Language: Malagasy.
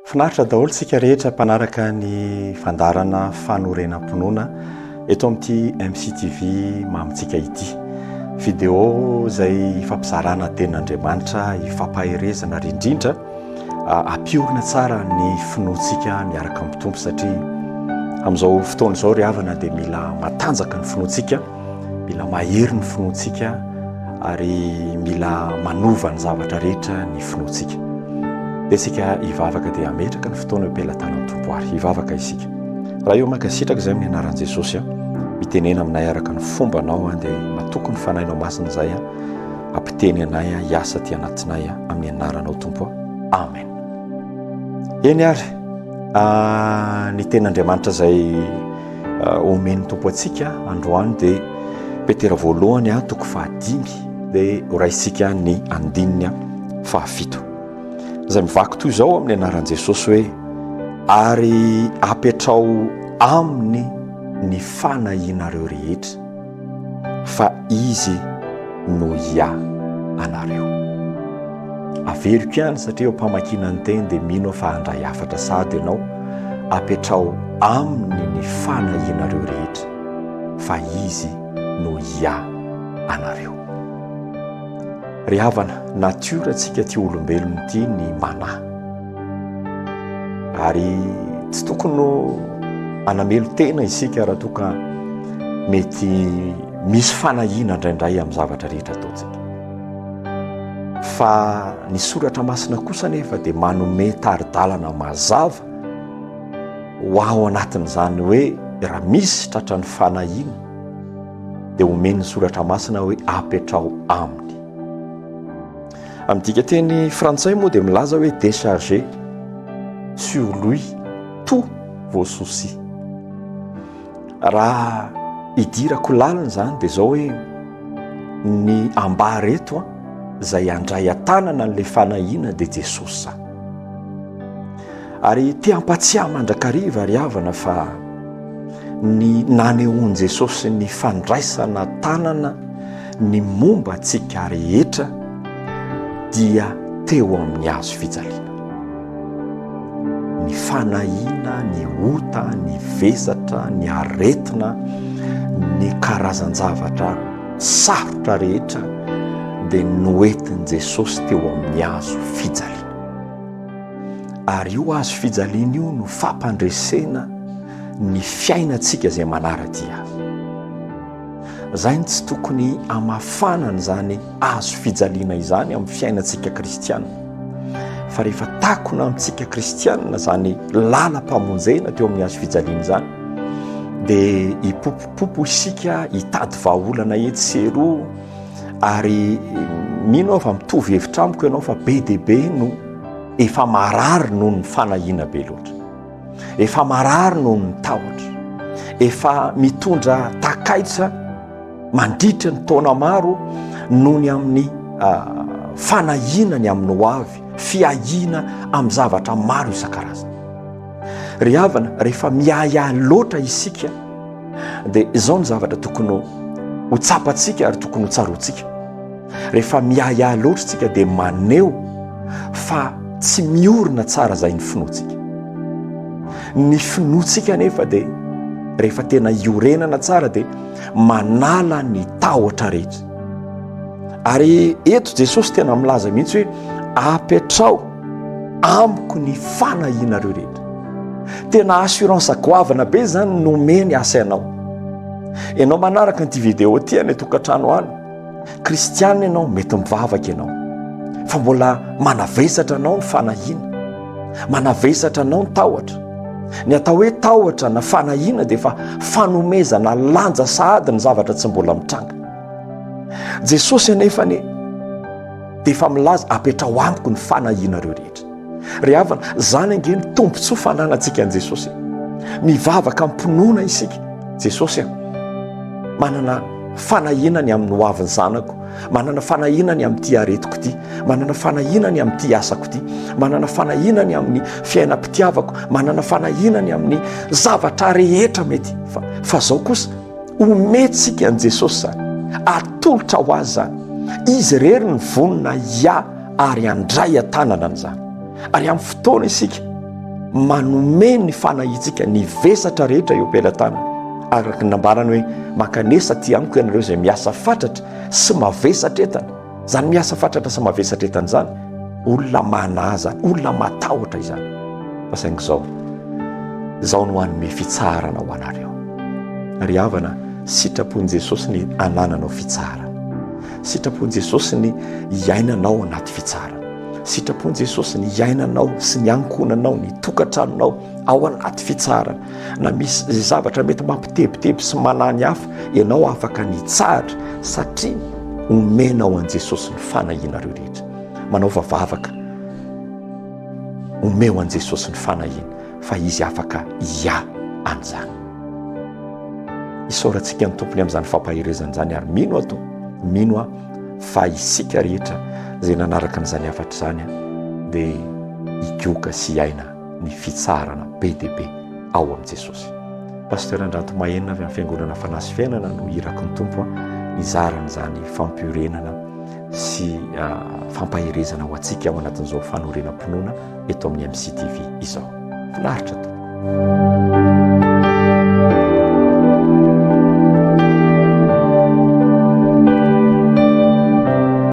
Finaritra daholo isika rehetra mpanaraka ny fandaharana fanorenam-pinoana eto amin'ity MCTV mamintsika ity. Video izay hifampizarana tenin'Andriamanitra, hifampaherezana ary indrindra ampiorina tsara ny finoantsika miaraka amin'ny Tompo satria amin'izao fotoana izao ry havana dia mila matanjaka ny finoantsika. Mila mahery ny finoantsika ary mila manova ny zavatra rehetra ny finoantsika. Dia isika hivavaka dia hametraka ny fotoana eo am-pelatanan'ny Tompo ary hivavaka isika. Raha eo mankasitraka izay amin'ny anaran'i Jesosy aho, mitenena aminay araka ny fomba anao aho dia matoky ny fanahinao masina izay aho, ampiteny anay aho hiasa aty anatinay aho amin'ny anaranao Tompo. Amen. Eny ary, ah, ny ten'Andriamanitra izay Omen'ny Tompo antsika androany dia Petera voalohany toko fahadimy dia horaisintsika ny andininy fahafito izay mivaky toy izao amin'ny anaran'i Jesosy hoe ary apetrao aminy ny fanahianareo rehetra. fa izy no ia anareo. Averiko ihany satria eo mpamakiana ny teny dia mino aho fa handray hafatra sady ianao apetraho aminy ny fanahianareo rehetra fa izy no ia anareo. Ry havana, natiora antsika ity olombelona ity ny manahy. Ary tsy tokony ho anamelo tena isika raha toa ka mety misy fanahiana indraindray amin'ny zavatra rehetra ataontsika. Fa ny soratra masina kosa anefa dia manome tari-dalana mazava ho aho anatin'izany hoe raha misy tratran'ny fanahiana dia omen'ny soratra masina hoe apetraho aminy. Amin'ny dikanteny frantsay moa dia milaza hoe décharger sur lui tous vos soucis. Raha idirako lalina izany dia izao hoe ny ambara eto an, izay andray an-tanana an'ilay fanahiana dia Jesosy izany. Ary te hampatsiahy mandrakariva ry havana fa ny nanehoan'i Jesosy ny fandraisana tanana Ny momba antsika rehetra dia teo amin'ny hazo fijaliana. Ny fanahiana, ny ota, ny vesatra, ny aretina, ny karazan-javatra sarotra rehetra dia noentin'i Jesosy teo amin'ny hazo fijaliana. Ary io azo fijaliana io no fampandresena ny fiainantsika izay manara-dia. Izay no tsy tokony hamafana an'izany hazo fijaliana izany amin'ny fiainantsika kristiana. Fa rehefa takona amintsika kristiana izany lalam-pamonjena teo amin'ny hazo fijaliana izany, dia hipopopopo isika hitady vahaolana etsy sy eroa ary mino aho fa mitovy hevitra amiko ianao fa be dia be no efa marary noho ny fanahiana be loatra. efa marary noho ny tahotra efa mitondra takaitra mandritra ny taona maro noho ny amin'ny ah, fanahiana ny amin'ny ho avy fiahiana amin'ny zavatra maro isan-karazana ry havana rehefa miahiahy loatra isika dia izao ny zavatra tokony ho tsapantsika ary tokony ho tsaroantsika Rehefa miahiahy loatra isika dia maneho fa tsy miorina tsara izay ny finoantsika. Ny finoantsika anefa dia rehefa tena iorenana tsara dia manala ny tahotra rehetra. Ary eto Jesosy tena milaza mihitsy hoe apetraho amiko ny fanahianareo rehetra. Tena assurance goavana be izany nomeny asa ianao. Ianao manaraka an'ity video ity any an-tokantrano any, Kristianina ianao, mety mivavaka ianao, fa mbola manavesatra anao ny fanahiana, manavesatra anao ny tahotra. Ny atao hoe tahotra na fanahiana dia efa fanomezana lanja sahady ny zavatra tsy mbola mitranga. Jesosy anefany dia efa milaza apetraho amiko ny fanahianareo rehetra. Ry havana, izany ange ny tombontsoa fananantsika an'i Jesosy e. Mivavaka am-pinoana isika, Jesosy a, manana fanahiana ny amin'ny hoavin'ny zanako, manana fanahiana ny amin'ity aretiko ity, manana fanahiana ny amin'ity asako ity, manana fanahiana ny amin'ny fiainam-pitiavako, manana fanahiana ny amin'ny zavatra rehetra mety fa fa zao kosa omentsika an'i Jesosy izany, atolotra ho azy izany, izy irery ny vonona hiahy ary handray an-tanana an'izany. Ary amin'ny fotoana isika manome ny fanahintsika ny vesatra rehetra eo am-pelatanana, araka ny nambarany hoe mankanesa aty amiko ianareo izay miasa fatratra sy mavesatra entana. Izany miasa fatratra sy mavesatra entana izany, olona manaza, olona matahotra izany. Fa saingy izao, izao no hanome fitsaharana ho anareo. Ry havana, sitrapon'i Jesosy ny anananao fitsaharana. Sitrapon'i Jesosy ny hiainanao anaty fitsarana. Sitrapon'i Jesosy ny hiainanao sy ny ankohonanao, ny tokantranonao ao anaty fitsarana. Na misy izay zavatra mety mampitebiteby sy manany hafa, ianao afaka ny hitsahatra satria omenao an'i Jesosy ny fanahianareo rehetra. Manao vavavaka. Omeo an'i Jesosy ny fanahiana. fa izy afaka hiahy an'izany. Isaorantsika ny Tompony amin'izany fampaherezana izany ary mino aho to, mino aho fa isika rehetra izay nanaraka an'izany hafatra izany dia hikoka sy hiaina ny fitsaharana be dia be ao amin'i Jesosy. Pasteur Andranto Mahenina avy amin'ny Fiangonana Fanahy sy Fiainana no iraky ny Tompo nizara an'izany fampiorenana sy fampaherezana ho antsika ao anatin'izao fanorenam-pinoana eto amin'ny MCTV izao. Finaritra tompoko.